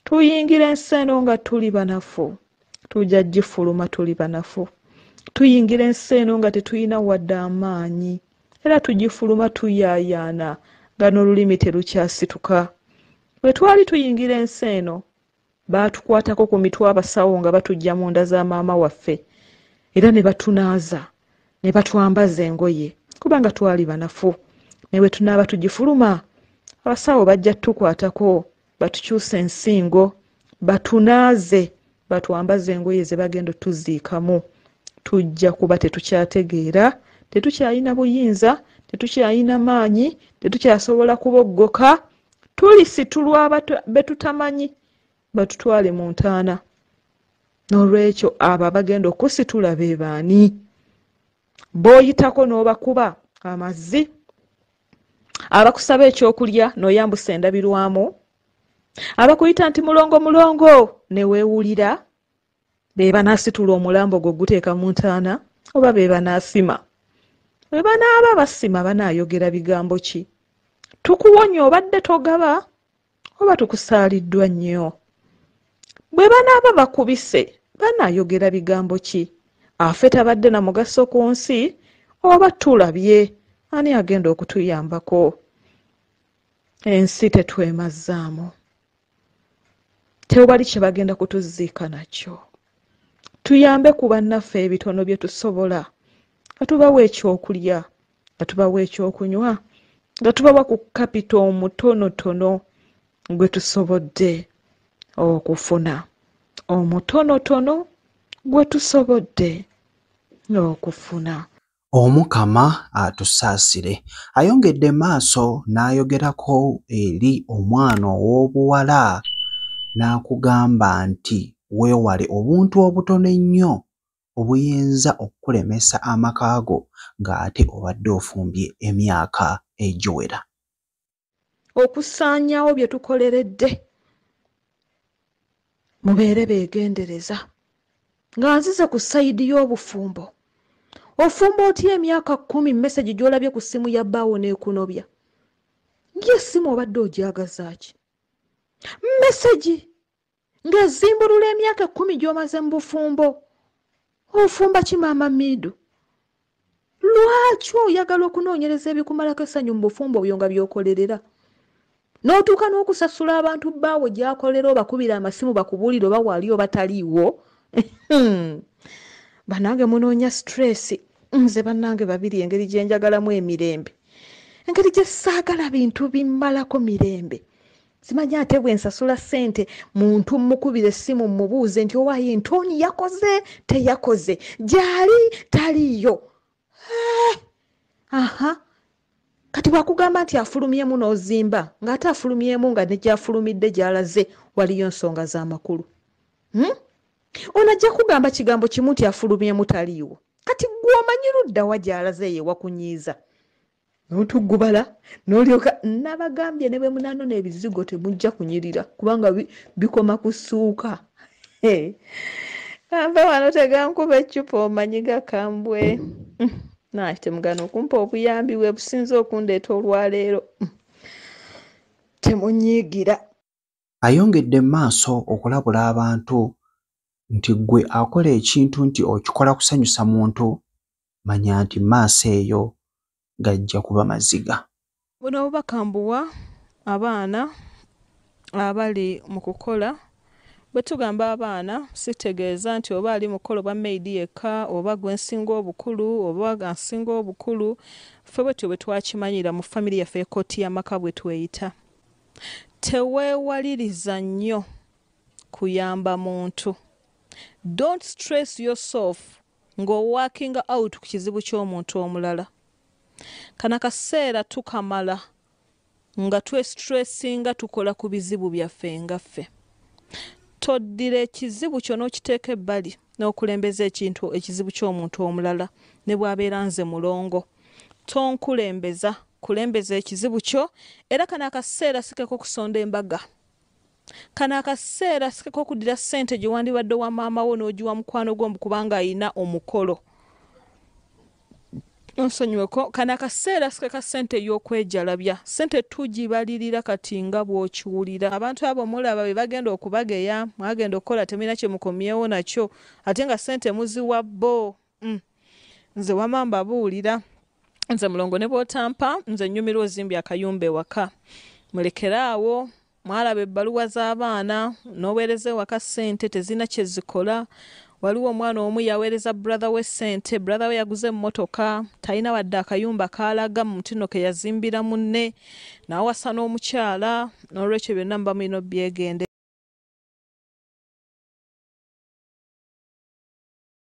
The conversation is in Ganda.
tuyingira ensi eno nga tuli banafu tujja gifuluma tuli banafu tuyingira ensi eno nga tetulina wadde amaanyi era tugifuluma tuyaayaana nga n'olulimi terukyasituka bwe twali tuyingira ensi eno baatukwatako ku mitwe abasawo nga batujja mu nda za maama waffe era ne batunaaza ne batwambaza engoye kubanga twali banafu ne bwe tunaaba tugifuluma abasawo bajja tukwatako batukyusa ensingo batunaaze batwambaze engoye ze bagenda otuziikamu tujja kuba tetukyategeera tetukyalina buyinza tetukyalina maanyi tetukyasobola kuboggoka tulisitulwa be tutamanyi batutwale mu ntaana n'olwekyo abo abagenda okusitula be baani booyitako n'obakuba amazi abakusaba ekyokulya noyambusa endabirwamu abakuyita nti mulongo mulongo newewulira bebanasitula omulambo gwe oguteeka mu ntaana oba bebanasima webanaaba basima banayogera bigambo ki tukuwonya obadde togaba oba tukusaaliddwa nnyo bwe banaaba bakubise banaayogera bigambo ki afe tabadde na mugaso ku nsi oba tulabye ani agenda okutuyambako ensi tetwemazzaamu tewali kye bagenda kutuziika nakyo tuyambe ku bannaffe ebitono bye tusobola nga tubawa ekyokulya nga tubawa ekyokunywa nga tubawa ku kapita omutonotono gwe tusobodde okufuna omutonotono gwe tusobodde okufuna omukama atusaasire ayongedde maaso n'ayogerako eri omwana ow'obuwala n'akugamba nti weewale obuntu obutono ennyo obuyinza okukulemesa amaka go ng'ate obadde ofumbye emyaka egiwera. Okusaanyawo bye tukoleredde. Mubeere beegendereza. Nga nzize ku sayidi y'obufumbo. Ofumba otya emyaka kkumi mesegi gy'olabye ku ssimu ya bbaawo n'ekunobya? Ng'essimu obadde ogyagazaaki? Mesegi! ng'ezimbulula emyaka ekkumi gy'omaze mu bufumbo ofumba ki maama miidu lwaki oyagala okunoonyereza ebikumalako essanyu mu bufumbo obyo nga byokolerera n'otuuka n'okusasula abantu baawo gyakolera obakubira amasimu bakubuulire oba waali oba taliiwo banange munoonya stress nze banange babiri engeri gye njagalamu emirembe engeri gye saagala bintu bimmalako mirembe simanyi ate bwe nsasula ssente muntu mmukubira essimu mmubuuze nti owaaye ntooni yakoze teyakoze gyali taliiyo eh, aha kati bwakugamba nti afulumyemu n'ozimba ng'ate afulumyemu nga ne gyafulumidde gyalaze waliyo nsonga z'amakulu hmm? ono ajja kugamba kigambo kimu nti afulumyemu taliiwo kati gwe omanyi luddawa gyalaze yewakunyiiza n'otuggubala n'olyoka nabagambye ne bwe munanona ebizigo temujja kunyirira kubanga bikoma ku ssuuka kampe wano tegankuba eccupa omanyi gakambwe mm, naki temugana okumpa obuyambi bwe businza okundeeta olwaleero mm, temunyiigira ayongedde mu maaso okulabula abantu nti ggwe akola ekintu nti okikola kusanyusa muntu manya nti maaso eyo gajja kuba maziga. Buno obubaka mbuwa abaana abali mu kukola. Bwe tugamba abaana sitegeeza nti oba ali mu kukola obwa maid yekka oba gwe nsinga obukulu oba ansinga obukulu, ffe bwetyo bwe twakimanyira mu famire yaffe ekkooti y'amaka bwe tweyita. Teweewaliriza nnyo kuyamba muntu. Don't stress yourself ng'owakinga out ku kizibu ky'omuntu omulala. Kana kaseera tukamala nga twesitressinga tukola ku bizibu byaffe nga ffe toddira ekizibu kyo n'okiteeka ebbali n'okulembeza ekintu ekizibu ky'omuntu omulala ne bw'abeera nze mulongo Tonkulembeza, kulembeza ekizibu kyo era kano akaseera sikeko kusonda embaga. Kano akaseera sikeko okudira ssente gye wandibadde owa maama wo n'ogiwa mukwano gwo mbu kubanga alina omukolo. Onsonyiweko, kano akaseera sikeka ssente ey'okwejalabya. Ssente tugibalirira kati nga bw'okiwulira. Abantu abo mulaba be bagenda okubageya, mwagenda okukola temulina kye mukomyewo nakyo ate nga ssente muziwa bbo. Mm. nze wama mbabuulira nze mulongo ne bwotampa nze nnyumirwa ozimbya akayumba ewaka mulekere awo mwalaba ebbaluwa z'abaana n'oweereza ewaka ssente tezirina kye zikola waliwo omwana omu yaweereza brother we ssente brother we yaguze emmotoka talina wadde akayumba kaalaga mu mutino ke yazimbira munne n'awasa n'omukyala n'olwekyo byonna muba mulina obyegende